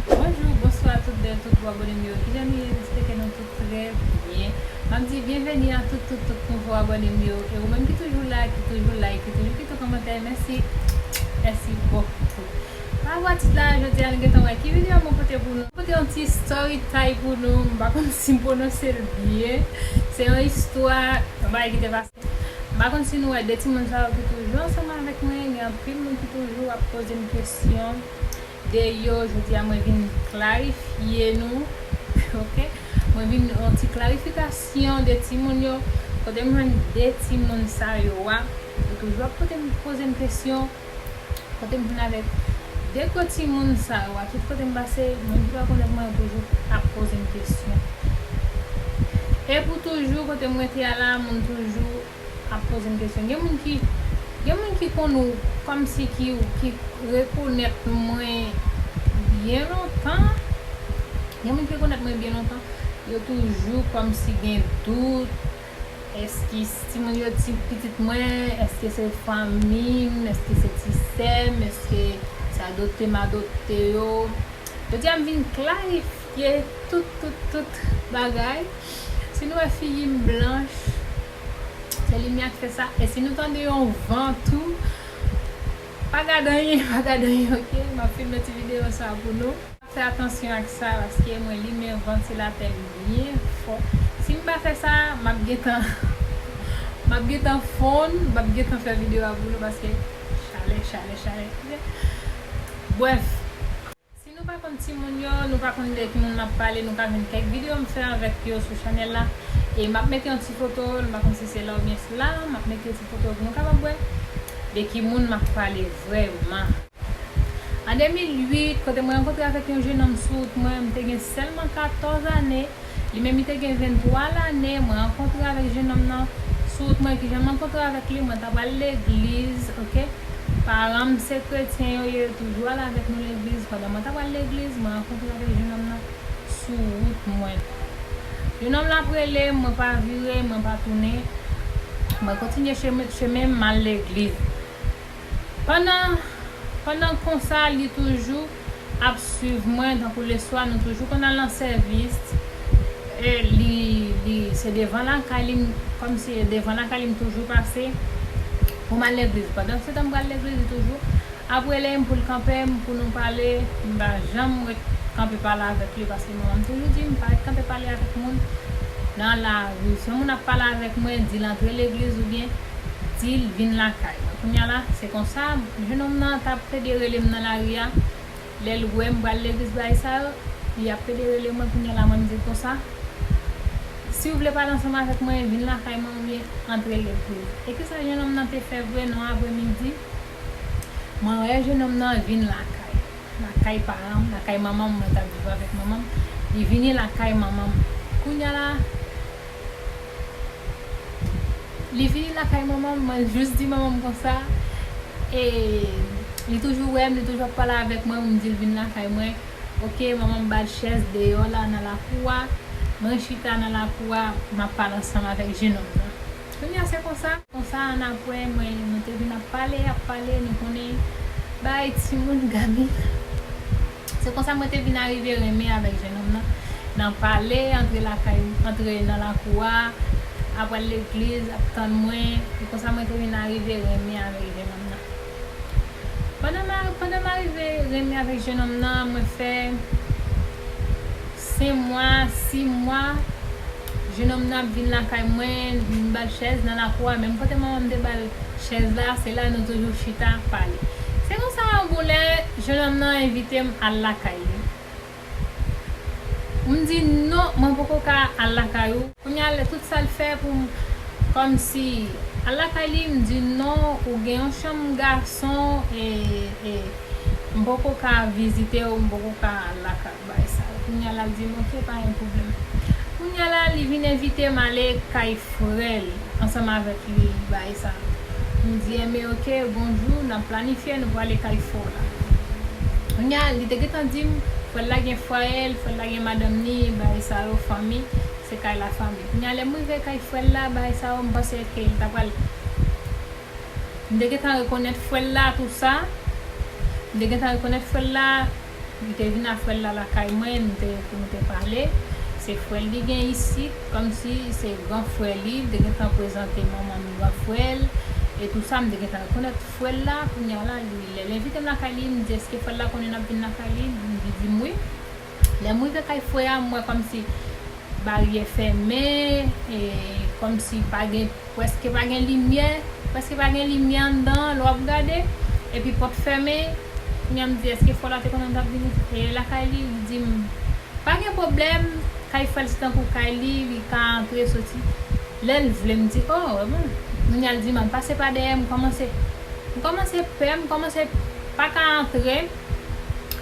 Bonjou, bonswa tout bèl, tout bo abòne m yo, kijan nou ye, jespè ke nou tout trè byen M ap di byenveni a tout tout tout nouvo abòne m yo E ou menm ki toujou la, ki toujou like, ki toujou kite kòmantè, mèsi Mèsi bòkoutou Pa vwa tit la, jodi a nou gentan wè ki videyo mwen pote pou nou Mwen pote yon ti story time pou nou, m pa konn si m pwononse l byen Se yon istwa, yon bagay ki te pase. M pa konn si nou wè 2 timoun sa yo ki toujou ansanm avèk mwen, gen anpil moun ki toujou ap poze m kesyon de yo, jodi a mwen vin klarifye nou ok, mwen vin yon ti klarifikasyon de timoun yo, kote m jwenn 2 timoun sa yo a, yo toujou ap poze m kesyon. Kote m vin avèk de gwo timoun sa yo a, tout kote m pase, moun ki pa konnen mwen yo toujou ap poze m kesyon. E pou toujou, kote m rete a la, moun toujou ap poze m kesyon. Gen moun ki, gen moun ki konn ou kòm si ki ou, ki rekonèt mwen byen lontan, gen moun ki rekonèt mwen byen lontan, yo toujou kòm si gen dout. Eskis, Timoun yo ti pitit mwen, èske se fanmi m, èske se ti sè m, èske se adopte m adopte yo? Jodi a m vin klarifye tout tout tout bagay. Si nou wè figi m blanch, se limyè k fè sa. E si nou tande yon van tou, pa gad anyen, pa gad anyen ok. M ap filme ti videyo sa pou nou. Fè atansyon ak sa paske mwen limen vantilatè m byen fò si m pa fè sa map gentan map gentan fonn map gentan fè video a boulon paske chalè chalè chalè ok brèf si nou pa konn timoun yo nou pa konn de ki moun map pale nou ka jwenn kèk video m fè avèk yo sou chanèl la e map mete yon ti foto m pa konn si se la oubyen la map mete ti foto pou nou kapab wè de ki moun map pale vrèman. An 2008, kote mwen rankontre avèk yon jenòm sou wout mwen, m te gen sèlman 14 ane, li menm li te gen 23 lane, mwen rankontre avèk jenòm nan sou wout mwen, kijan m rankontre avèk li, mwen ta pral legliz ok, paran m se kretyen yo ye, yo toujou al avèk nou legliz, pandan mwen ta pral legliz, mwen rankontre avèk jenòm nan sou wout mwen, jenòm lan ap rele m, mwen pa vire, mwen pa tounen, mwen kontinye chemen m, m al legliz. Pandan pandan konsa li toujou ap swiv mwen tankou leswa nou toujou konn al nan sèvis e li li se devan lakay li kòm si e devan lakay li m toujou pase pou m al legliz pandan se tan m pral legliz li toujou ap rele m pou l kanpe m pou nou pale m pa janm ret kanpe pale avèk li paske manman m toujou di m pa ret kanpe pale avèk moun nan lari si yon moun ap pale avèk mwen di l antre legliz oubyen di l vin lakay mwen. Kounye a la, se konsa, jenòm nan t ap pede rele m nan lari a. Lè l wè m pral legliz bagay sa yo, li ap pede rele mwen. Kounye a la, mwen m di l konsa, Si w vle pale ansanm avèk mwen, vin lakay mwen oubyen antre legliz. E ki sa jenòm nan te fè vre nan apremidi? Mwen wè jenòm nan vin lakay, lakay paran m, lakay manman m, mwen t ap viv avèk manman m, li vini lakay manman m. Kounye a la. Li vini lakay manmanm mwen jus di manmanm konsa e li toujou wèm li toujou ap pale avèk mwen pou m dil vin lakay mwen ok manmanm bal chèz deyò la nan lakou a mwen chita nan lakou a map pale ansanm avèk jenòm nan kounya se konsa konsa annapre mwen nou te vin ap pale ap pale nou konnen bay timoun gamit. Se konsa mwen te vin arive renmen avèk jenòm nan, nan pale, antre lakay, antre nan lakou a, ap al legliz, ap tann mwen, e konsa mwen te vin arive renmen avèk jenòm nan. Pandan m arive renmen avèk jenòm nan, mwen fè. Sen mwa, si mwa, jenòm nan ap vin lakay mwen, m ba l chèz nan lakou a, menm kote manman m te ba l chèz la, se la nou toujou chita, pale. Se konsa yon bon lè, jenòm nan envite m al lakay li. M di, non, mwen poko ka al lakay ou. Kounye a, tout sa l fè pou m kòmsi al lakay li, m di, non, ou gen yon chanm gason e m poko ka vizite ou, m poko ka al lakay ou. bay sa yo kounya lap dim ok pa gen pwoblèm kounya la li vin envitem ale kay frèl ansanm avèk li bay sa mdi enben ok gon jou nap planifye nou pwale kay frèw la kounya li te gentan dim frèl la gen fwayel frèl la gen madanm ni bay sa yo fanmi se kay la fanmi kounya lèm rive kay frèl la bay sa yo mpanse ke li ta pral mte gentan rekonèt frèl la tou sa mte gentan rekonèt frèl la. Li te vin a frèl la lakay mwen nou te pou nou te pale se frèl li gen isit kòmsi se gran frè li li te gentan prezante manman m gran frèl e tou sa m te gentan rekonèt frèl la kounya la li lèl envitem lakay li m di eske frèl la konnen nap vin lakay li li di m wi lèm rive kay frè a m wè kòmsi Baryè fèmen, e kòm si pa gen, prèske pa gen limyè, prèske pa gen limyè anndan an lè w ap gade, epi pòt fèmen, kounye a m di èske fò la te konnen m t ap vini lakay li, li di m pa gen pwoblèm, kay frè l se tankou kay li, li ka antre soti lè l vle, m di o, e bon, kounye a l di m an pase pa dèyè, m kòmanse m kòmanse pè, m kòmanse pa ka antre,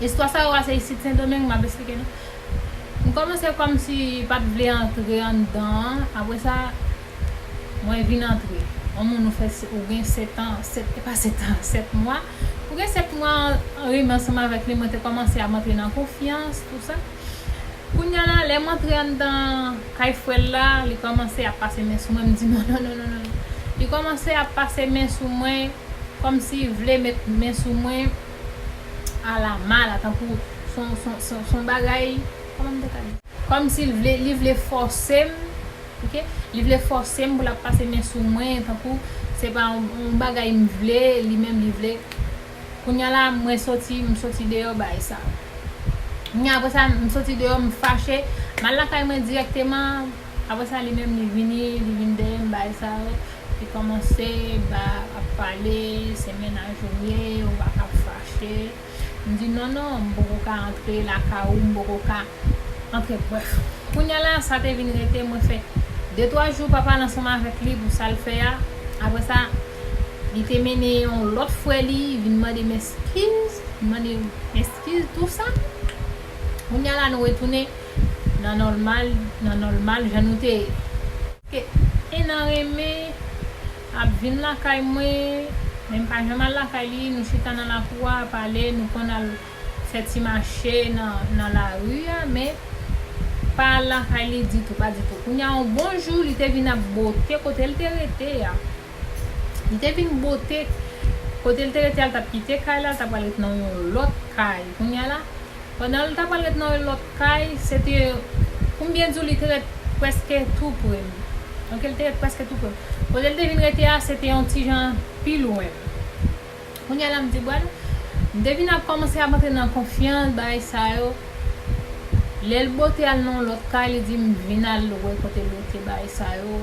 istwa sa yo a se isit Sendomeng m ap esplike nou. M komanse komsi pat vle antre anndan an apre sa mwen vin antre on moun ou fè ou gen 7 an 7 e pa 7 an 7 mwa ou gen 7 mwa renmen ansanm avèk li mwen te komanse ap antre nan konfyans tou sa kounya la lèm antre anndan kay frèl la li komanse ap pase men sou mwen m di nononnonono li komanse ap pase men sou mwen komsi vle met men sou mwen. A la mala tankou son bagay Koman m te ka di Kòmsi li vle fòse m ok Li vle fòse m pou l ap pase men sou mwen tankou se pa yon bagay m vle li menm li vle Kounya la mwen soti m soti deyò bay sa Kounya apresa m soti deyò m fache M al lakay mwen dirèkteman Apre sa li menm li vini, li vin dèyè m bay sa yo, li kòmanse ba ap pale, se mennaj ou ye, ou pa ka ap fache. M di non non, m poko ka antre lakay ou, m poko ka antre brèf. Kounya la sa te vin rete mwen fè de twa jou pa pale ansanm avèk li pou sa l fè a. Apre sa li te mennen yon lòt frè li vin mande m eskiz, mande m eskiz tou sa. Kounya la nou retounen nan nòlmal nan nòlmal jan nou te ye. Ke 1 an renmen ap vin lakay mwen men m pa janm al lakay li nou chita nan lakou a pale nou konn al fè ti mache nan lari a men pa al lakay li ditou pa ditou kounya on bon jou li te vin ap bote kote l te rete a. Li te vin bote kote l te rete a, l t ap kite kay la, l t ap pral ret nan yon lòt kay. Kounya la, pandan l t ap pral ret nan yon lòt kay, se te pou m byen di w li te ret prèske tou pre m. Ok, li te ret prèske tou pre m. Kote l te vin rete a, se te yon ti jan pi lwen. Kounya la, m di bon, m te vin ap kòmanse ap antre nan konfyans, bagay sa yo. Lè l bote al nan yon lòt kay, li di m vin al lwe kote l rete, bagay sa yo.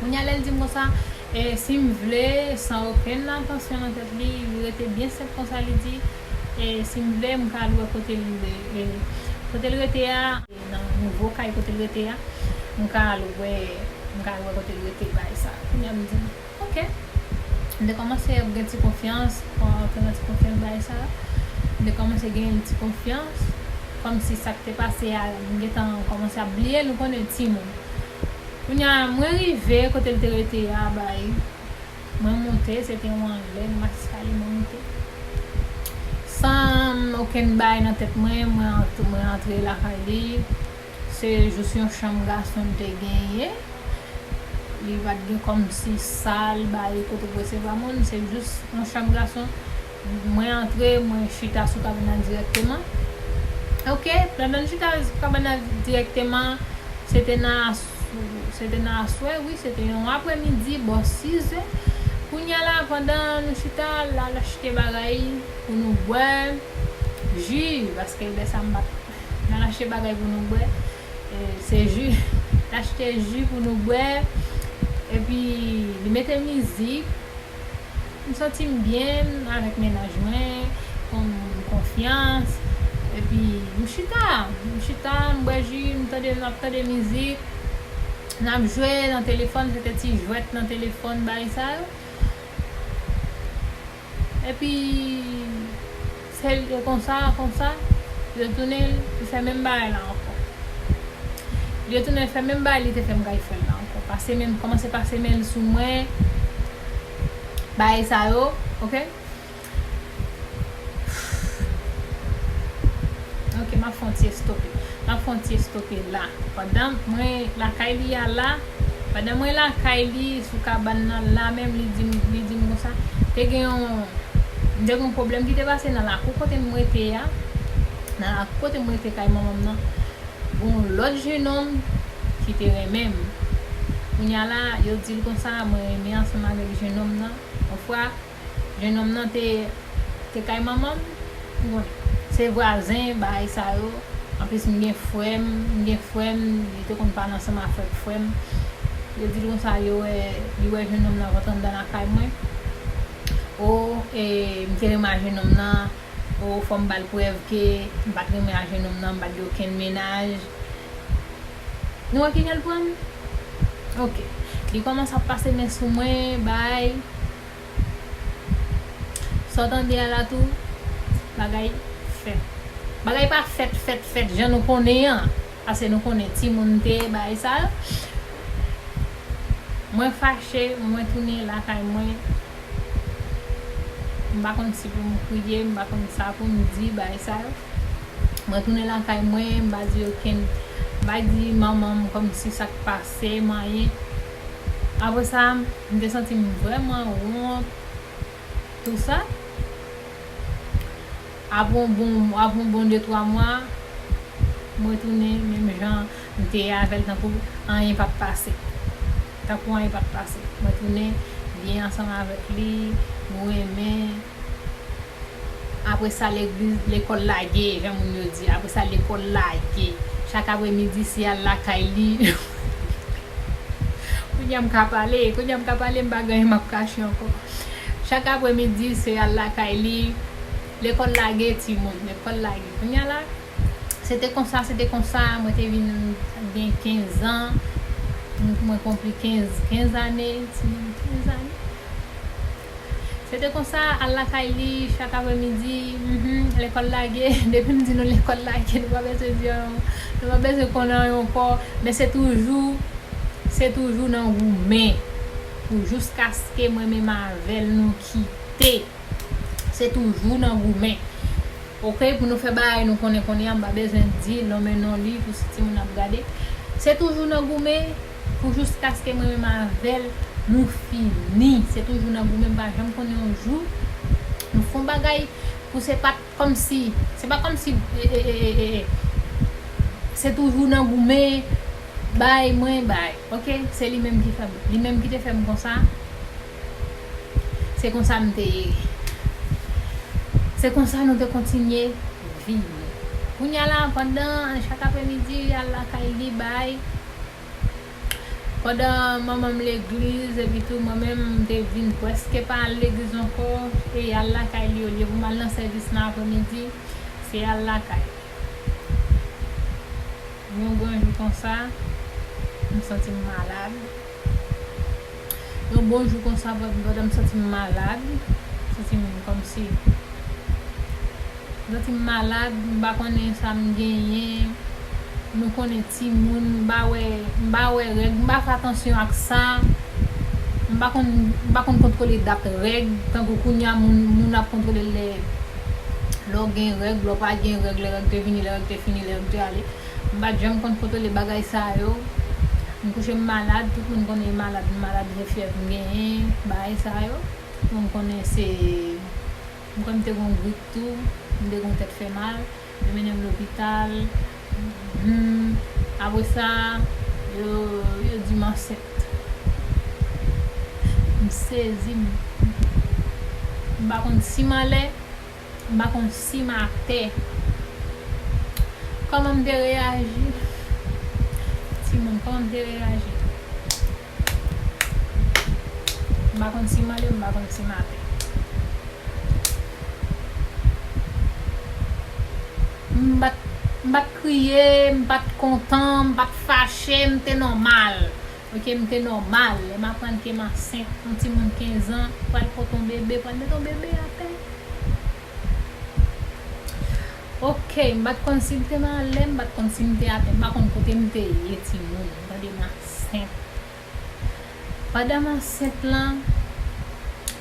Kounye a lè l di m konsa, e si m vle, san okenn atansyon nan tèt li, li rete byen senp konsa li di, e si m vle m ka al wè kote l kote l rete a, nan nouvo kay kote l rete a, m ka al wè m ka al wè kote l rete bagay sa. Kounye a m di ok. M te kòmanse ap gen ti konfyans, antre nan ti konfyans bagay sa. M te kòmanse genyen ti konfyans, kòmsi sa k te pase a m gentan kòmanse ap bliye l, ou konnen timoun. Kounya mwen rive kotel te rete a bay mwen moute se te yon anglè nan mas eskalye mwen moute san okenn bay nan tèt mwen mwen antre lakay li se jous yon chanm gason li te genyen li pat gen kòmsi sal bay kote pou resevwa moun se jous yon chanm gason Mwen antre, mwen chita sou kabanal dirèkteman. Ok, pandan m chita sou kabanal dirèkteman, se te nan aswè, wi, se te yon apre midi, bò 6 zè. Kounya la, pandan nou chita, l al achte bagay pou nou bwè, ji, paske lè sa m pa t, l al achte bagay pou nou bwè, se ji, l achte ji pou nou bwè, epi li mete mizik. M santi m byen avèk mennaj mwen, fè m konfyans, epi m chita, m chita, m bwè ji, m tande, n ap tande mizik, n ap jwe nan telefòn, se te ti jwèt nan telefòn bagay sa yo, epi. Sel e konsa konsa yo tounen fè menm bagay la ankò yo tounen fè menm bagay li te fè m kay frèl la ankò pase men kòmanse pase men l sou mwen bagay sa yo ok ok map fon ti estope map fon ti estope la pandan mwen lakay li a la. Pandan mwen lakay li sou kabann nan la menm li dim li dim konsa te gen yon m te gen yon pwoblèm ki te pase nan lakou kote m rete a nan lakou kote m rete kay manman m nan gen yon lòt jenòm ki te renmen m kounya la yo di l konsa mwen renmen ansanm avèk jenòm nan yon fwa Jenòm nan te te kay manman m, m konnen. Se vwazen bagay sa yo, anplis m gen frè m, m gen frè m, li te konn pale ansanm avèk frè m. Yo di l konsa yo wè, li wè jenòm nan rantre anndan lakay mwen. O, e, m te renmen a jenòm nan, o, fò m ba l prèv ke m pa t renmen a jenòm nan, m pa t gen okenn mennaj. Nou wè ki jan l pran m? Ok. Li kòmanse ap pase men sou mwen, bagay. Sa w tande a la tou, bagay fèt. Bagay pa fèt fèt fèt jan nou konnen an, pase nou konnen timoun te bay sa yo. Mwen fache, mwen tounen lakay mwen. M pa konn si pou m kriye, m pa konn sa pou m di, bagay sa yo. Mwen tounen lakay mwen, m pa di okenn, m pa di manman m kòmsi sa k pase m anyen. Apre sa, m te santi m vrèman wont tou sa. Apre yon bon, apre yon bon de twa mwa, m retounen menm jan m te ye avè l tankou anyen pa t pase. Tankou anyen pa t pase. M retounen byen ansanm avèk li, nou renmen. Apre sa legliz, lekòl lage, jan moun yo di. Apre sa lekòl lage. Chak apre midi si al lakay li. Kounye a m ka pale, kounye a m ka pale m pa gen anyen m ap kache ankò. Chak apre midi se al lakay li. Lekòl lage timoun, lekòl lage. Kounye a la, se te konsa, se te konsa, mwen te vin gen 15 an, mwen konpli 15, 15 ane, timoun 15 ane. Se te konsa, al lakay li, chak apre midi, mph, lekòl lage, depi m di nou lekòl lage, nou pa bezwen di anyon, nou pa bezwen konnen anyon ankò, men se toujou, se toujou nan goumen, pou jouskaske mwen menm avè l nou kite, se toujou nan goumen. Ok, pou nou fè bagay nou konnen kounye a, m pa bezwen di lonmen non li pou si timoun ap gade, se toujou nan goumen. Pou juskaske mwen menm avèl nou fini se toujou nan goumen m pa janm konnen yon jou nou fon bagay pou se pat kòmsi se pa kòmsi se toujou nan goumen bay mwen bay ok se li menm ki fèm li menm ki te fèm konsa se konsa m te ye se konsa nou te kontinye viv kounya la pandan chak apremidi li al lakay li bay. Pandan manman m legliz, epi tou mwen menm m te vin prèske pa al legliz ankò, e y al lakay li olye pou m al nan sèvis nan apremidi, se al lakay. Yon gran jou konsa, m santi m malad. Yon bon jou konsa brother m santi m malad, m santi m kòmsi m santi m malad, m pa konnen sa m genyen, nou konnen timoun, m pa wè, m pa wè règ, m pa fè atansyon ak sa, m pa konn, m pa konn kontwole dat règ, tankou kounye a moun, moun ap kontwole lè lè w gen règ, lè w pa gen règ, lè règ te vini, lè règ te fini, lè règ te ale. M pat janm konn kontwole bagay sa yo, m kouche m malad, tout moun konnen m malad, m malad vre fyèv m genyen, bagay sa yo. Bon m konnen se, m kwè m te gon grip tou, m te gon tèt fè mal, yo mennen m lopital, humm, apre sa yo yo di m ansent. M sezi, m pa konn si m anlè. M pa konn sim atè. Kòman m te reyaji? Timoun, kòman m te reyaji? M pa konn sim anlè, m pa konn sim atè. M pa t, m pa t kriye, m pa t kontan, m pa t fache, m te nòmal. Ok m te nòmal lè m aprann ke m ansent yon timoun 15 ans pral pot yon bebe pral met yon bebe atè ok m pat konn si l te nan lè m pat konn si m te atè m pa konn kote m te ye timoun m tande m ansent pandan m ansent lan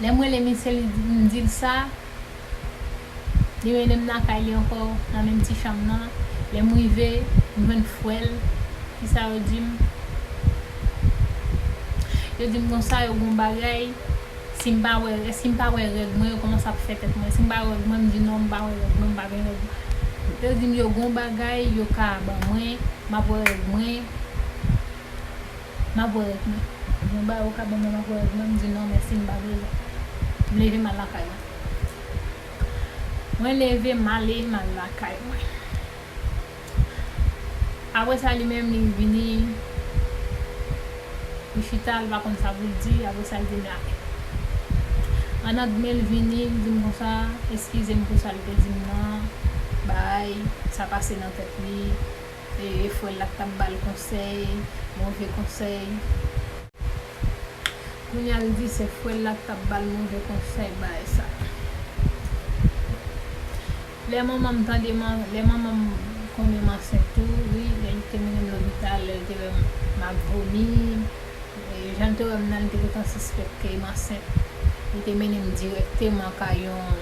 lè m rele misye m di l sa. Li mennen m lakay li ankò, nan menm ti chanm nan. Lè m rive, m jwenn frè l. Ki sa yo di m? Yo di m konsa, yo gon bagay, si m pa wè rè, si m pa wè règ mwen, yo kòmanse ap fè tèt mwen. Si m pa wè règ mwen, m di non, m pa wè règ mwen, m pa gen règ. Yo di m yo gon bagay yo ka ban mwen, m ap wè règ mwen, m ap wè règ mwen. Yo di m yon bagay yo ka ban mwen, m ap wè règ mwen, m di non mèsi, m pa bezwen. M leve m al lakay mwen. Mwen leve male mal lakay mwen. Apre sa li menm li vini li chita li pa konn sa poul di apre sa li te nale. Anna dmen li vini li dim konsa eskizem pou sal te dim nan bay sa pase nan tèt li e frèl la ki tap bal konsèy move konsèy. Kounya l di se frè l la k t ap ba l move konsèy bay sa. Lè manman m tande m lè manman m konnen m ansent tou wi lè li te mennen m lopital lè l te wè m m ap vomi jan l te wè m nan li te gentan sispèk ke m ansent li te mennen m dirèkteman kay yon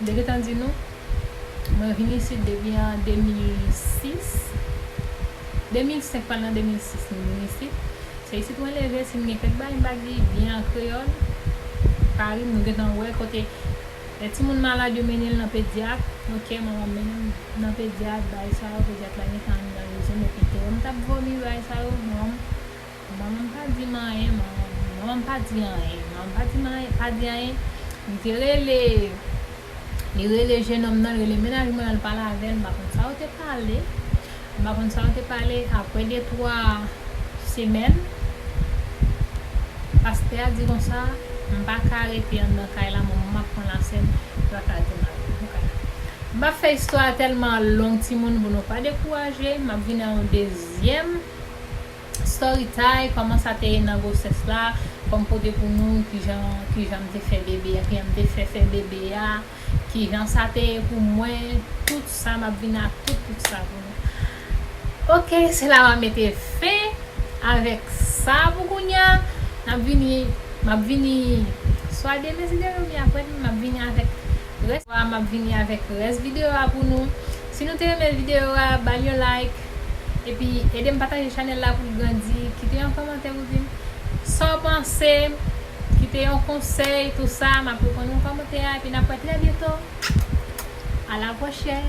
M te gentan di nou, mwen vin isit depi an 2006, 2005 pral nan 2006 m vin isit. Se isit mwen leve, si m gen kèk bagay m pa di byen an kreyòl, pa ri m, nou gentan wè kote lè timoun malad yo mennen l nan pedyat, ok manman m mennen m nan pedyat, bagay sa yo, pedyat la gentan anndan rezon m epi tèlman m t ap vomi bagay sa yo, manman m Manmanm pa di m anyen Manmanm pa di anyen Manmanm pa di m anyen Pa di anyen Li te rele Li rele jenòm nan Li rele mennaj mwen an L pale avè l M pa konn sa yo te pale M pa konn sa yo te pale Apre de twa semèn Pastè a di konsa M pa ka rete anndan kay la Manmanm ap pran lasèn Li pa ka rete m ap rete nan kay la M pa fè istwa a tèlman long timoun Pou nou pa dekouraje M ap vini nan yon dezyèm Story time, Kòman sa te ye nan gwosès la, fòm pote pou nou kijan kijan m te fè bebe a, kijan m te fè fè bebe a, kijan sa te ye pou mwen, tout sa map vin ak tout tout sa pou nou. Ok se la map mete fen avèk sa pou kounya, nap vini map vini swa demen si Dye vle ou byen aprè demen map vini avèk Rès a map vini avèk rès video a pou nou. Si nou te renmen video a bal yon like epi edem pataje chanèl la poul grandi kite yon kòmantè pou dim Saw panse kite yon konsèy tou sa map reponn ou kòmantè a epi nap wè trè byento a la pwochèn.